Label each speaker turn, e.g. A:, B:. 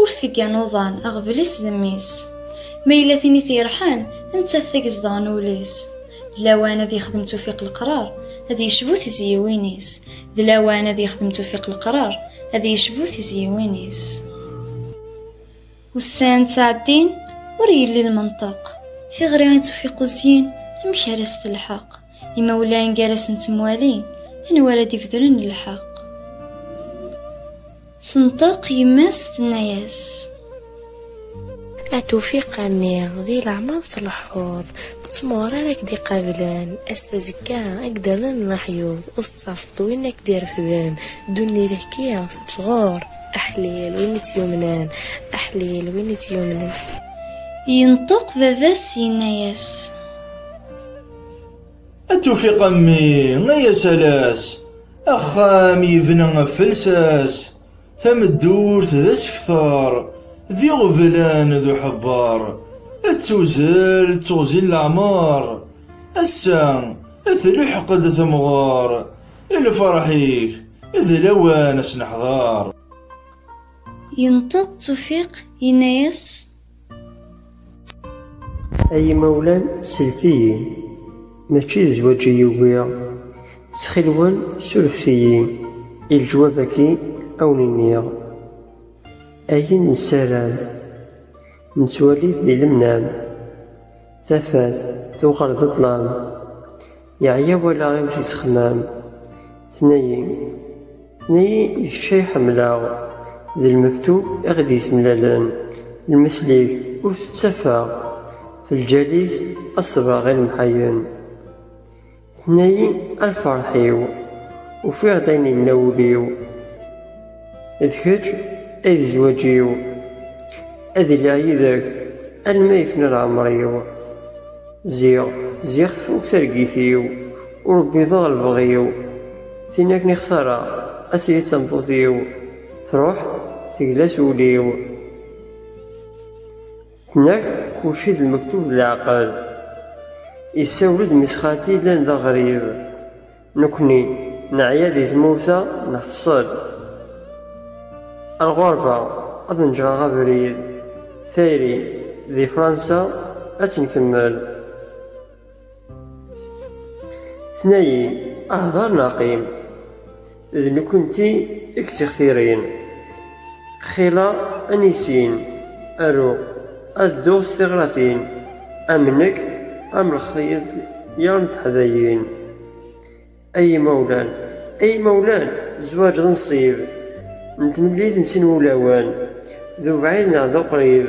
A: Ur teggan uḍan, aɣbel-is d mmi-s. Ma yella tin i t-yerḥan, nettat tag zedɣen ul-is. D lawan ad yexdem tufiq leqrar, ad yecbu tizyiwin-is. D lawan ad yexdem tufiq leqrar, ad yecbu tizyiwin-is. Ussan ttɛeddin, ur yelli lmenṭeq. Tiɣri i tufiq uzyin, amek ara s-telḥeq? Imawlan gar-asen ttemwalin, anwa ara d-ibedren lḥeq? Tenṭeq yemma-s tenna-yas. At
B: ufiq a mmi, di leɛmer tleḥḥuḍ, d tmuɣer ara k-d-iqablen, ass azekka a k-d-rren leḥyuḍ, ur tettafeḍ win a k-d-irefden, ddunit hki tettɣur, aḥlil win i tt-yumnen, aḥlil win i tt-yumnen. Yenṭeq
A: baba-s yenna-yas.
C: A tufiq a mmi, ay asalas, axxam yebna ɣef lsas, tameddurt d asekter, d iɣeblan d uḥebber, ad tuzzel d teɣzi n leɛmer, ass-a ad tluḥeq-d temɣer, i lferḥ-ik d lawan ad s-neḥder.
A: Yenṭeq Tufiq yenna-yas.
D: Ay imawlan, slet-iyi, mačči d zzwaǧ i ugiɣ. Ttxil-wen, surfet-iyi, i leǧwab-agi a wen-iniɣ ayen nessaram. Nettwali-t di lemnam, tafat tuɣal d ṭṭlam. Yeɛya walaɣ imek yettxemmam. Tenna-yi, tenna-yi d kečč ay ḥemmleɣ. D lmektub i ɣ-d-yessemlalen. Lmetl-ik ur t-ttafeɣ. F lǧal-ik ad ṣebreɣ i lemḥayen. Tenna-yi, a lferḥ-iw. Ufiɣ-d ayen yenna wul-iw. D kečč ay d zzwaǧ-iw, ad iliɣ yid-k alma yefna leɛmer-iw. Ziɣ, ziɣ tfuk targit-iw, ur wwiḍeɣ lebɣi-w. Tin akken i xtareɣ ad tili d tameṭṭut-iw, truḥ tegla s wul-iw. Tenna-k kulci d lmektub d leɛqel. Isawel-d mmi-s xalti yellan d aɣrib. Nekkni neɛya di tmurt-a nḥeṣṣel lɣerba ad neǧreɣ abrid, tayri di Fransa ad tt-nkemmel. Tenna-yi hder neɣ qim, d nekkenti i yettixtirin. Xila anisin, aru, ad dduɣ s tiɣratin, am nekk, am lexyed yar n teḥdayin. Ay imawlan, ay imawlan, zzwaǧ d nnṣib, n tmellil n sin wulawen, d ubɛid neɣ d uqrib,